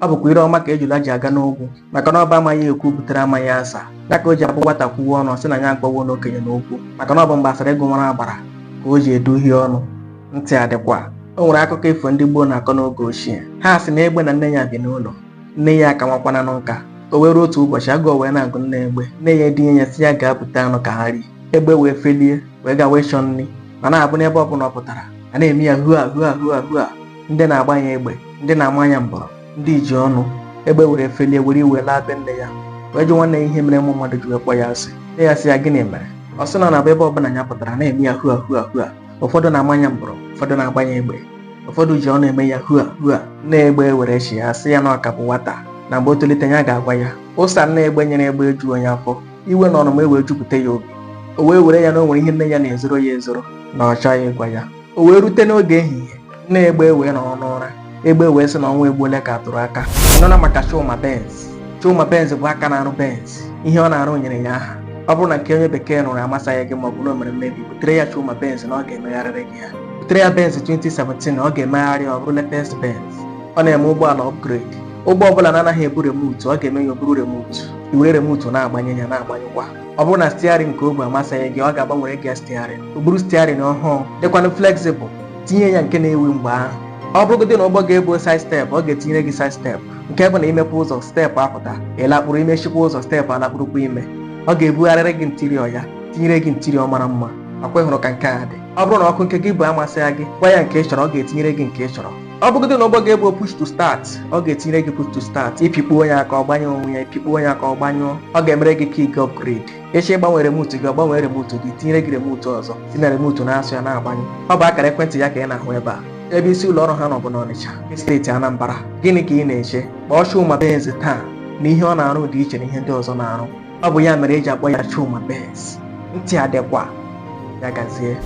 ọ bụkwa ire ọma ka ejula ji aga n'ogwu maka na ọ bụ amaghị ekwu butere amaghị asa ya ka o ji abụ nwata kwuwe ọnụ sị na ya agbawo n'okenye n'okwu maka na ọ bụ mgbe asara ego nwara agbara ka o ji eduhie ọnụ ntị adịkwa o nwere akụkọ ifo ndị gboo na-akọ n'oge ochie ha sị na egbe na nne ya bi n'ụlọ nne ya aka nwakwana na nka o wee ruo otu ụbọchị agụụ wee na-agụ nne egbe nne ya edunye ya sị ya gaa bute anụ ka ha rie egbe wee felie wee gawa ịchọ nri ma na-abụ n'ebe ọ bụla ọ pụtara a na-eme ya hua hua hua hua ndị na-agba ya egbe ndị na-ama ya mbọrọ ndị ji ọnụ egbe were felie were iwe laa be nne ya wee jụwa nne ya ihe mere ụmụ mmadụ ji wee kpọ ya asị nne ya sị ya gịnị mere ọ sị na ọ na-abụ ebe ọbụla ya pụtara na-eme ya hua hua hua ụfọdụ na-ama ya mbọrọ ụfọdụ na-agba ya egbe ụfọdụ ji ọnụ eme ya hua hua nne egbe were chịa sị ya na ọ ka bụ nwata na mgbe o tolite ya ga-agwa ya ụsa nne egbe nyere egbe ejughị ya afọ iwe na ọnụma ewee jupụta ya obi o wee were ya na o nwere ihe nne ya na-ezoro ya ezoro na ọ chọghị ịgwa ya o wee rute n'oge ehihie nne egbe ewee nọrọ n'ụra egbe wee sị na ọnwa egbuola ka atụrụ aka nụna maka Chuma Benz Chuma Benz bụ aka na-arụ Benz ihe ọ na-arụ nyere ya aha ọ bụrụ na nke onye bekee rụrụ amasaghị gị ma ọ bụ na o mere mmebi butere ya Chuma Benz na ọ ga-emegharịrị gị ya butere ya Benz 2017 na ọ ga-emegharị ya ọ bụrụ latest Benz ọ na-eme ụgbọala upgrade ụgbọ ọbụla na-anaghị ebu remotu ọ ga-eme ya o buru remotu i were remotu na-agbanye ya na-agbanyụkwa ọ bụrụ na steering nke o bu amasaghị gị ọ ga-agbanwere gị steering o buru steering ọhụụ dịkwanụ flexible tinye ya nke na-ewu mgbe ahụ ọ bụrụgodị na ụgbọ gị ebughị side step ọ ga-etinyere gị side step nke bụ na i mepe ụzọ step apụta ị lakpuru i mechikwa ụzọ step alakpurukwa ime ọ ga-ebugharịrị gị interior ya tinyere gị interior mara mma ọ kwa ị hụrụ ka nke a dị ọ bụrụ na ọkụ nke gị bu amasaghị gị gwa ya nke ị chọrọ ọ ga-etinyere gị nke ị chọrọ ọ bụgodị na ụgbọ gị ebughị push to start ọ ga-etinyere gị push to start ị pịkpuo ya aka ọ gbanye onwe ya ị pịkpuo ya aka ọ gbanyụọ ọ ga-emere gị key upgrade ị chọọ ịgbanwe remote gị ọ gbanwee remote gị tinyere gị remote ọzọ si na remote na-asụ ya na-agbanyụ ọ bụ akara ekwentị ya ka ị na-ahụ ebe a ebe isi ụlọ ọrụ ha nọ bụ n'Ọnịcha steeti Anambra gịnị ka ị na-eche kpọọ Chuma Benz taa na ihe ọ na-arụ dị iche na ihe ndị ọzọ na-arụ ọ bụ ya mere eji akpọ ya Chuma Benz ntị adịkwa ya gazie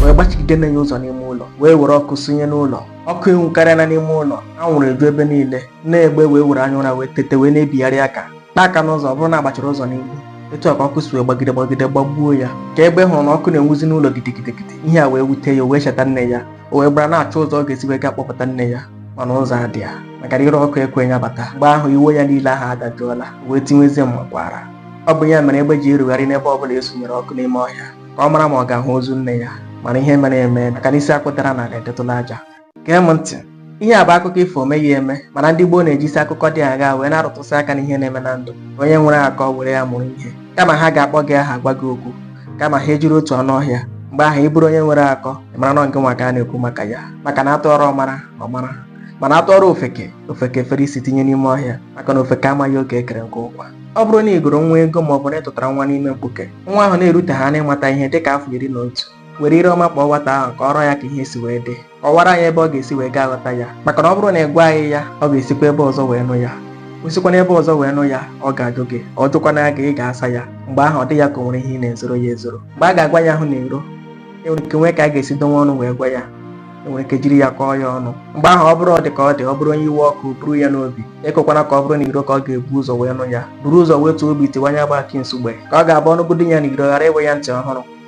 wee gbachigide nne ya ụzọ n'ime ụlọ wee were ọkụ sụnye n'ụlọ ọkụ enwukarịala n'ime ụlọ anwụrụ eju ebe niile nne egbe wee were anya ụra wee tete wee na-ebigharị aka kpa aka n'ụzọ ọ bụrụ na agbachiri ụzọ n'ihu etu a ka ọkụ si wee gbagide gbagide gbagbuo ya ka egbe hụrụ na ọkụ na-enwuzi n'ụlọ gidigidigidi ihe a wee wute ya o wee cheta nne ya o wee gbara na-achọ ụzọ ọ ga-esi wee gaa kpọpụta nne ya mana ụzọ adịghị ya maka na ire ọkụ ekweghị ya bata mgbe ahụ iwe ya niile ahụ adajụọla o wee tiwezie mmakwaara ọ bụ ya mere egbe ji erugharị n'ebe ọ bụla esunyere ọkụ n'ime ọhịa ka ọ mara ma ọ ga-ahụ ozu nne ya mana ihe mere emeela maka na isi akwụdara n'ala edetụla aja gee m ntị ihe a bụ akụkọ ifo o meghị eme mana ndị gboo na-ejisi akụkọ dị agha wee na-arụtụsị aka n'ihe na-eme na ndụ onye nwere akọ were ya mụrụ ihe kama ha ga-akpọ gị aha gwa gị okwu kama ha ejiri otu ọnụ ọhịa mgbe ahụ ị bụrụ onye nwere akọ ị mara na ọ ngị nwa ka a na-ekwu maka ya maka na atụọrọ ọmara ọmara mana atụọrọ ofeke ofeke fere isi tinye n'ime ọhịa maka na ofeke amaghị oge ekere nkụ ụkwa ọ bụrụ na i goro nwa ego ma ọ bụ na ị tụtara nwa n'ime mkpuke nwa ahụ na-erute ha n'ịmata ihe dịka afọ iri na otu were ire ọma kpọọ nwata ahụ kọọrọ ya ka ihe si wee dị kọwara anyị ebe ọ ga-esi wee gaa ghọta ya maka na ọ bụrụ na ị gwaghị ya ọ ga-esikwa ebe ọzọ wee nụ ya o sikwa n'ebe ọzọ wee nụ ya ọ ga-ajụ gị ọ jụkwana ya gị ị ga-asa ya mgbe ahụ ọ dị ya ka o nwere ihe ị na-ezoro ya ezoro mgbe a ga-agwa ya ahụ n'iro enwere ike nwee ka a ga-esi donwe ọnụ wee gwa ya enwere ike jiri ya kọọ ya ọnụ mgbe ahụ ọ bụrụ ọ dị ka ọ dị ọ bụrụ onye iwe ọkụ buru ya n'obi ekwekwana ka ọ bụrụ n'iro ka ọ ga-ebu ụzọ wee nụ ya buru ụzọ wetuo obi tiwanye agba akị nsugbe ka ọ ga-abụ ọ nụgodi ya n'iro ghara ịwụ ya ntị ọhụrụ